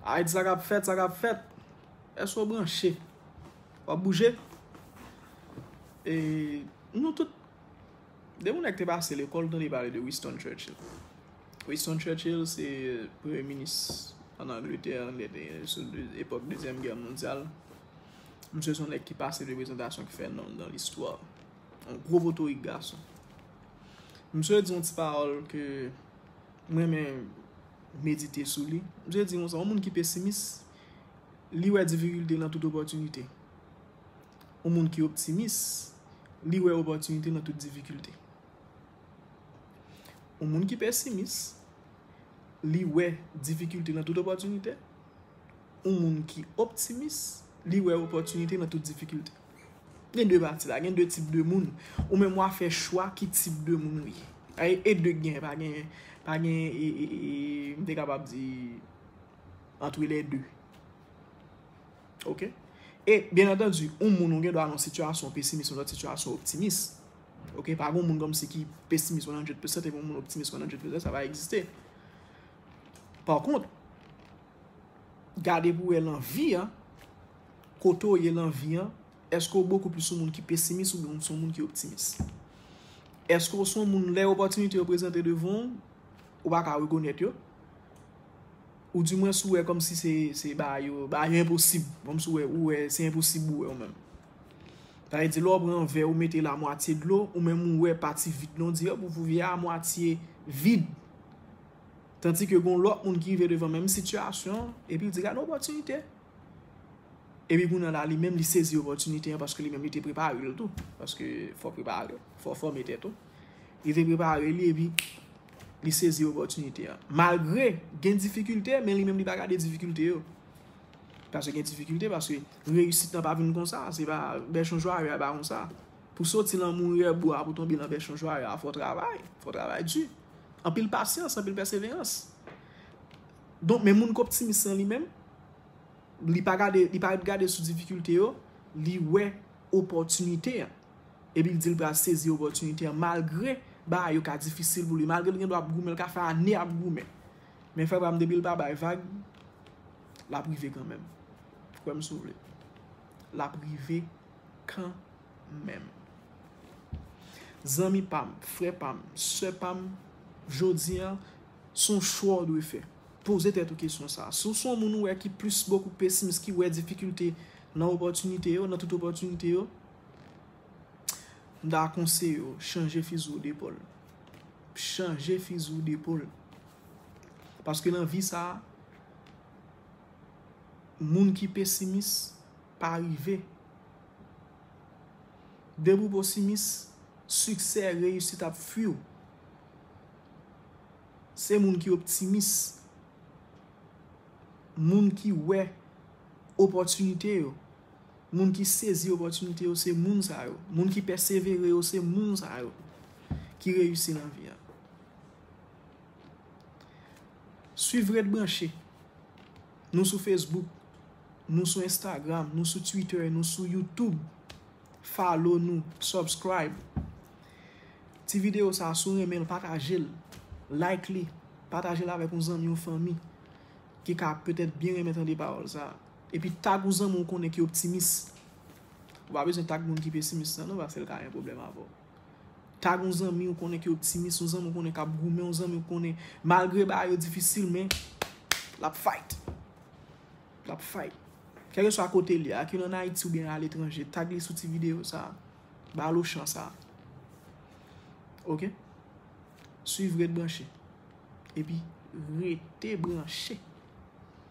Aid sa kap fèt, sa kap fèt. Èske ou branche? Ou ap bouje? E nou tout, de moun nèk te pase lekòl tande pale de Winston Churchill. Winston Churchill se premye minis an Angletè an lè te sou epòk dezyèm gè mondyal. Misye son nèk ki pase de prezantasyon ki fè nonm nan listwa. Yon gwo potorik gason. Misye di yon ti pawòl ke M renmen medite sou li. M toujou di konsa, yon moun ki pesimis, li wè difikilte nan tout opòtinite. Yon moun ki optimis, li wè opòtinite nan tout difikilte. Yon moun ki pesimis, li wè difikilte nan tout opòtinite. yon moun ki optimis, li wè opòtinite nan tout difikilte. Gen 2 pati la, gen 2 tip de moun. Ou menm wa fè chwa ki tip de moun ou ye. Aye e 2 gen, pa gen, pa gen e, e, e, m te kapab di antre les deux. Ok? E, byen antandu, yon moun ou gen dwa nan sitiyasyon pesimis, yon lòt sitiyasyon optimis. Ok? Pa gen yon moun kòmsi ki pesimis 100% epi yon moun optimis 100%, sa pa egziste. Par kont, Gade pou wè lan vi an, kote w ye lan vi an, eske w bokou plis yon moun ki pesimis oubyen w son moun ki optimis? Eske w son moun lè opòtinite yo prezante devan w, ou pa ka rekonèt yo? Ou di mwens ou wè kòm si se bagay yo, bagay yo enposib, kòm si ou wè se enposib ou wè ou menm? Sa vle di lè w pran yon vè ou mete l a mwatye dlo, ou menm ou wè pati vid lan, ou di hop ou vye a mwatye vid. Tandi ke gon lòt moun ki rive devan menm sitiyasyon, epi l di gade opòtinite. Epi moun nan la li menm li sezi opòtinite an paske li menm li te prepare l tou. Paske fò prepare, fò fòme tèt ou. Li te prepare li epi li sezi opòtinite an. Malgre gen difikilte men li menm li pa gade difikilte yo. Paske gen difikilte paske reyisit nan pa vin konsa. Se pa bèchon jwaye a pa konsa. Pou soti lan moure bwa pou tonbe lan bèchon jwaye a fò travay. Fò travay di. Anpil pasyans, anpil pèseverans. Donk men moun k optimis lan li menm, li pa gade, li pa ret gade sou difikilte yo, li wè opòtinite an. Epi l di l pral sezi opòtinite an malgre bagay yo ka difisil pou li, malgre l gendwa ap goumen, l ka fè ane ap goumen. Men frè pa m depi l pa bay vag, l ap rive kanmenm. Kwè m si w vle. L ap rive. kan menm. Zanmi pa m, frè pa m, sè pa m, jodi an, s on chwa w dwe fè. Poze tèt ou kesyon sa a. Si w s on moun ou wè ki plis bokou pesimis, ki wè difikilte nan opòtinite yo, nan tout opòtinite yo, m ta konseye w chanje fizi w depòl. Chanje fizi w depòl. Paske nan vi sa a, moun ki pesimis. pa rive. Depi w posimis, siksè, reyisit ap fui w. Se moun ki optimis, moun ki wè opòtinite yo, moun ki sezi opòtinite yo se moun sa yo. Moun ki pèsevere yo se moun sa yo ki reyisi nan vi a. Swiv Ret Branche, nou sou Facebook, Nou sou Instagram, nou sou Twitter, nou sou YouTube. Follow nou, subscribe. Ti video sa sou renmen l pataje l. Like li, pataje l avèk yon zanmi yon fanmi ki ka petèt byen renmen tande pawòl sa. Epi tag yon zanmi ou konnen ki optimis. Ou pa bezwen tag moun ki pesimis nan non paske l ka gen pwoblèm avè w. Tag yon zanmi ou konnen ki optimis, yon zanmi ou konnen kap goumen, yon zanmi ou konnen malgre bagay yo difisil men lap fight. l ap fay. Kèlkeswa kote l ye, ak yon an Ayiti oubyen aletranje, tag li sou ti videyo sa a. Ba l ochan sa a. Ok? Swiv Ret Branche. Epi, rete branche!